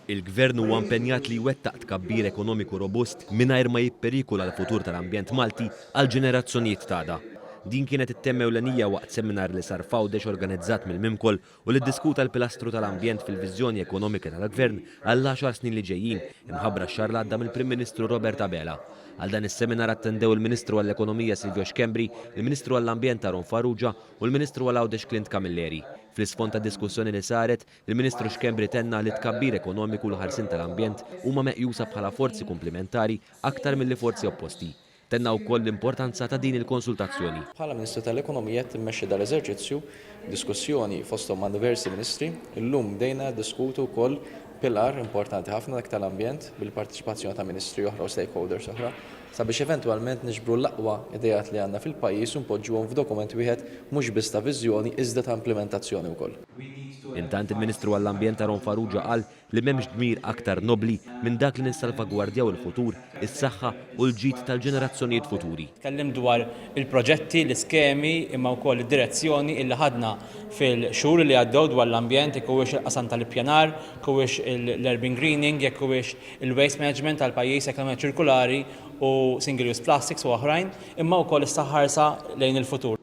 Il-Gvern huwa impenjat li jwettaq tkabbir ekonomiku robust mingħajr ma jipperikola l-futur tal-ambjent Malti għall-ġenerazzjonijiet t'għada. Din kienet it-tema ewlenija waqt seminar li sar f'Għawdex organizzat mill-Mimkol u li ddiskuta l-pilastru tal-ambjent fil-viżjoni ekonomika tal-Gvern għall-għaxar snin li ġejjin, imħabbra x-xahar li għadda mill-Prim Ministru Robert Abela. Għal dan is-seminar attendew il-Ministru għall-Ekonomija Silvio Schembri, il-Ministru għall-Ambjent Aaron Farrugia u l-Ministru għal Għawdex Clint Camilleri. Fl-isfond tad-diskussjoni li saret, il-Ministru Schembri tenna li t-tkabbir ekonomiku u l-ħarsien tal-ambjent huma meqjusa bħala forzi kumplimentari aktar milli forzi opposti. Tenna wkoll l-importanza ta' din il-konsultazzjoni. Bħala Ministru tal-Ekonomija qed immexxi dal-eżerċizzju b'diskussjoni fosthom ma' diversi Ministri. Illum bdejna niddiskutu wkoll Pillar importanti ħafna dak tal-ambjent bil-parteċipazzjoni ta' ministri oħra u stakeholders oħra sabiex eventwalment niġbru l-aqwa ideat li għandna fil-pajjiż u npoġġuhom f'dokument wieħed mhux biss ta' viżjoni iżda ta' implimentazzjoni wkoll. Intant il-Ministru għall-Ambjent Aaron Farrugia qal li m'hemmx dmir aktar nobbli minn dak li nissalvagwardjaw il-futur is-saħħa u l-ġid tal-ġenerazzjonijiet futuri. Tkellimt dwar il-proġetti, l-iskemi imma wkoll id-direzzjoni illi ħadna fil-xhur li għaddew dwar l-ambjent, jekk huwiex il-qasam tal-ippjanar, jekk huwiex l-urban greening, jekk huwiex il-waste management tal-pajjiż, l-ekonomija ċirkulari u single use plastics u oħrajn, imma wkoll issa ħarsa lejn il-futur.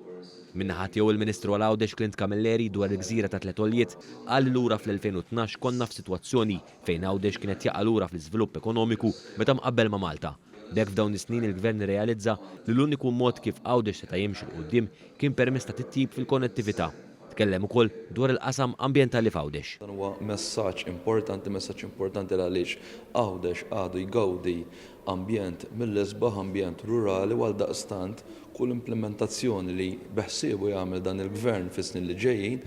Min-naħa tiegħu il-Ministru għal Għawdex Clint Camilleri dwar il-gżira ta' Tliet Għoljiet qal li lura fl-2012 konna f'sitwazzjoni fejn Għawdex kienet jaqa' lura fl-iżvilupp ekonomiku meta mqabbel ma' Malta. B'hekk f'dawn is-snin il-Gvern irrealizza li l-uniku mod kif Għawdex seta' jimxi 'l quddiem kien permezz ta' titjib fil-konnettività. Tkellem ukoll dwar il-qasam ambjentali f'Għawdex. Dan huwa messaġġ importanti, messaġġ importanti għaliex Għawdex għadu jgawdi ambjent mill-isbaħ, ambjent rurali u għaldaqstant kull implimentazzjoni li beħsiebu jagħmel dan il-Gvern fis-snin li ġejjin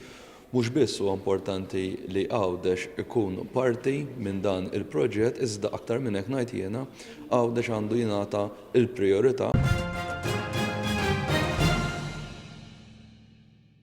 Mhux biss huwa importanti li Għawdex ikun parti minn dan il-proġett iżda aktar minn hekk ngħid jiena, Għawdex għandu jingħata l-prijorità.